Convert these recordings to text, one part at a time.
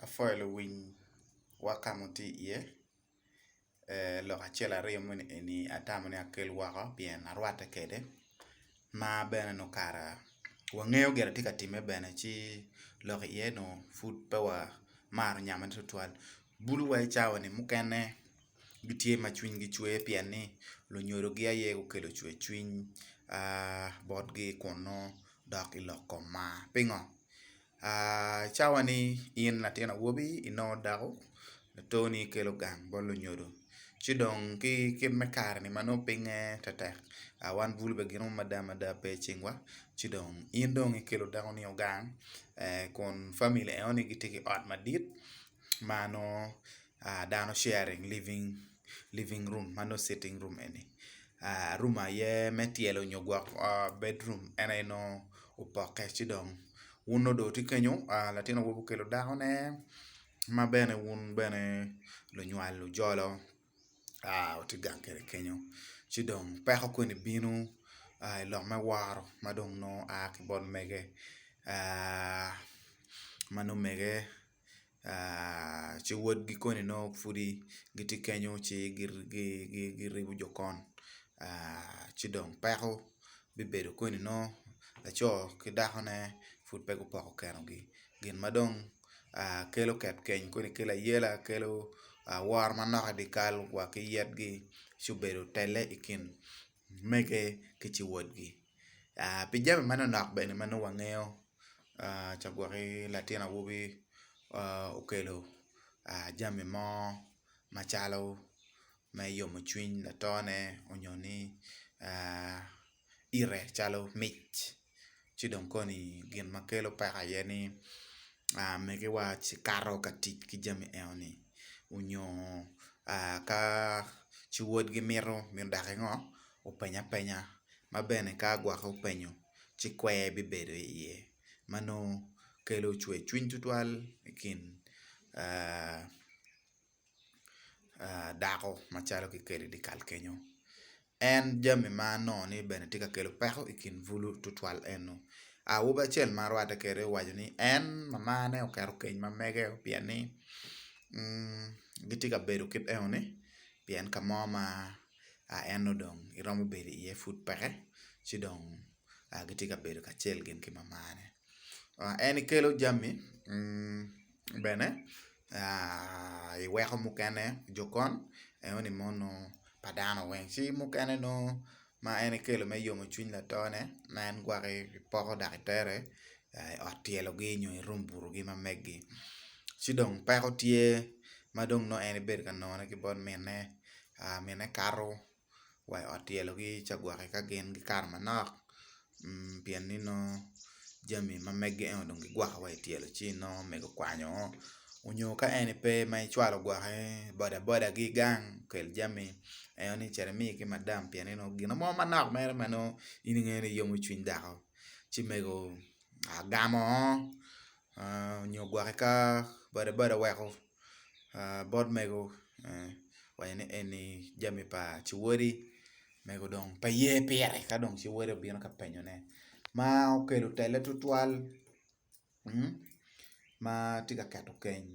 Apwoyo luwiny wa ka ma wutye iye, lok acel aryo moni eni atamo ni akel woko pien arwatte kwede ma bene nongo kara wangeyo gin ma tye ka timme bene ci lok iye nongo pud pe wamaro nyammane tutwal. Bulu wa i cawani mukene. gitye ma cwinygi cwer pien ni lunyodogi aye gukelo cwercwiny botgi kun nongo dok i lok kom mar. Pingo? Cawa ni in latin awobi inongo dako latoni ikelo gang bot lunyodo ci dong ki kit me kare-ni ma nongo pinye tektek wan bulu bene gin mada mada pe i cingwa ci dong in dong ikelo dako nio gang kun famili enoni gitye ki ot madit ma nongo dano sharing living room ma nongo citing room eni room aye me tyelo nyo gwok ot bedroom en aye nongo opokke ci dong wun nongo dong kikenyo latin awobi okelo dakone ma bene wun bene lunywal lujolo watye gang kwede kenyo ci dong peko koni bino i lok me woro ma dong nongo aa ki bot mege ma nongo mege. ci wodgi koni nongo pudi gitye kenyo ci giribo jo kon ci dong peko bibedo koni nongo laco ki dakone pud pe gupoko kenogi gin ma dong kelo ket keny kodi kelo ayela kelo woro manok i dye kal wa ki yitgi ci obedo telle i kin mege ki ciwotgi. Pi jami manonok bene ma nongo wangeyo ca gwok-ki latin awobi okelo jami mo macalo me yomo cwiny latone nyo ni ite calo mic. ci dong koni gin ma kelo peko aye ni megiwa cikato ka tic ki jami eno ni onyo ka ci wodgi mito daki ngo openya penya ma bene ka gwok openyo ci kwer bibedo iye ma nongo kelo cwer cwiny tutwal ikin dako macalo kikelo i dyekal kenyo en jami ma nongo ni bene tye ka kelo peko i kin bulu tutwal eno awobi acel ma arwatte kwede owaco ni en mamane oketo keny ma mege pien ni gitye ka bedo kit eno ni pien ka mo ma en nongo dong iromo bedo iye pud peke ci dong gitye ka bedo kacel gin ki mamane en kelo jami bene i weko mukene jokon enoni mo nongo pa dano weng ci mukene nongo ma en ekelo me yomo cwiny latone ma en gwaki poko dok itere i ot tyelogi nyo i rum butogi ma meggi ci dong peko tye ma dong nongo en ibedo ka nongone ki bot minne minne kato wa i ot tyelo ki ca gwok ka gin gikato manok pien ni nongo jami ma mege ento dong gigwoko wa ityelo ci nongo omego kwanyo o onyo ka en aye pe ma icwalo gwoki boda boda gi gang okel jami ento ni cit imi ki madam pien ni nongo gin mo manok mere ma nongo in ingeyo ni yomo cwiny dako ci mego agamo o nyo gwoki ka boda boda weko bot mego waco ni eni jami pa ciwodi mego dong pe ye pire ka dong ciwodi obino ka penyone ma okelo tele tutwal ma tye ka keto keny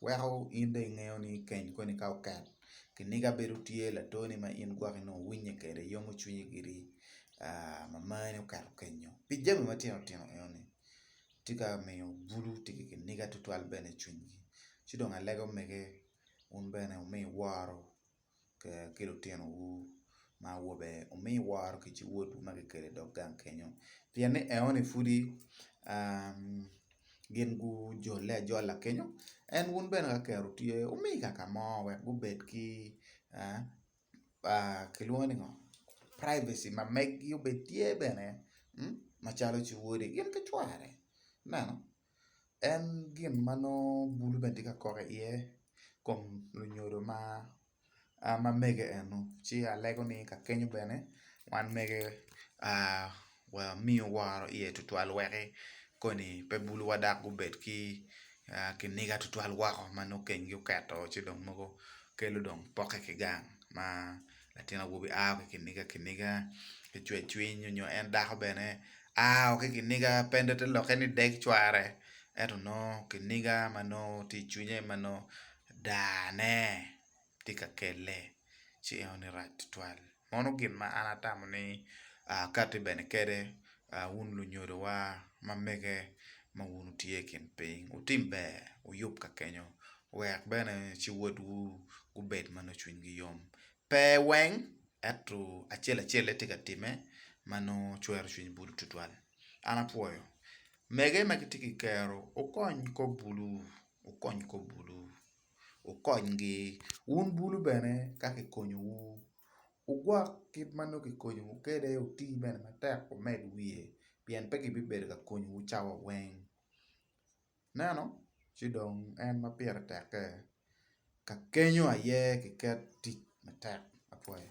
weko in dong ingeyo ni keny koni ka oket kiniga bedo tye latoni ma in gwok inongo iwinye kwede yomo cwinyi giri mamani oketo kenyo pi jami matino tino eno ni. Tye ka miyo bulu tye ki kiniga tutwal bene i cwinygi. Ci dong alega omege, wun bene wumi woro ki litinowu ma awobe, wumi woro ki ci wodwu ma kikelo i dog gang kenyo, pien ni eo-ni pudi gin gujole ajola kenyo, en wun bene ka kero tye, wumi kaka mo wek gubed ki. kilwongo ni ngo privacy ma megi obed tye bene macalo ci wode gin ki cware ineno en gin ma nongo bulu bene tye ka kok iye kom lunyodo ma mege eno ci alego ni kakenyo bene wan mege wamiyo woro iye tutwal weki koni pe bulowa dok gubed ki kiniga tutwal woko ma nongo kengi oketo ci dong mogo kelo dong pokke ki gang ma latin awobi a ki kiniga kiniga ki cwer cwiny nyo en dako bene a o ki kiniga pe nongo te lokke ni deg cware ento nongo kiniga ma nongo ti icwinye ma nongo dane ti ka kelle ci enoni rac tutwal Meno gin ma an atamo ni akati bene kede wun lunyodowa ma mege ma wun wutye i kin piny. Wutim ber, wuyub ka kenyo, wek bene ci wodwu gubed ma nongo cwinygi yom. Pe weng, ento acel acel-le tye ka timme ma nongo cwero cwiny Bulu tutwal. An apwoyo mege ma gitye ki kero. Wukony kop Bulu, wukony kop Bulu. wukonygi. Wun bulu bene ka kikonyowu, wugwok kit ma nongo kikonyowu kwede, wuti bene matek wumed wiye, pien pe gibibedo ka konyowu cawa weng. Ineno? Ci dong en ma pire tekke, ka kenyo aye kiket tic matek. Apwoyo.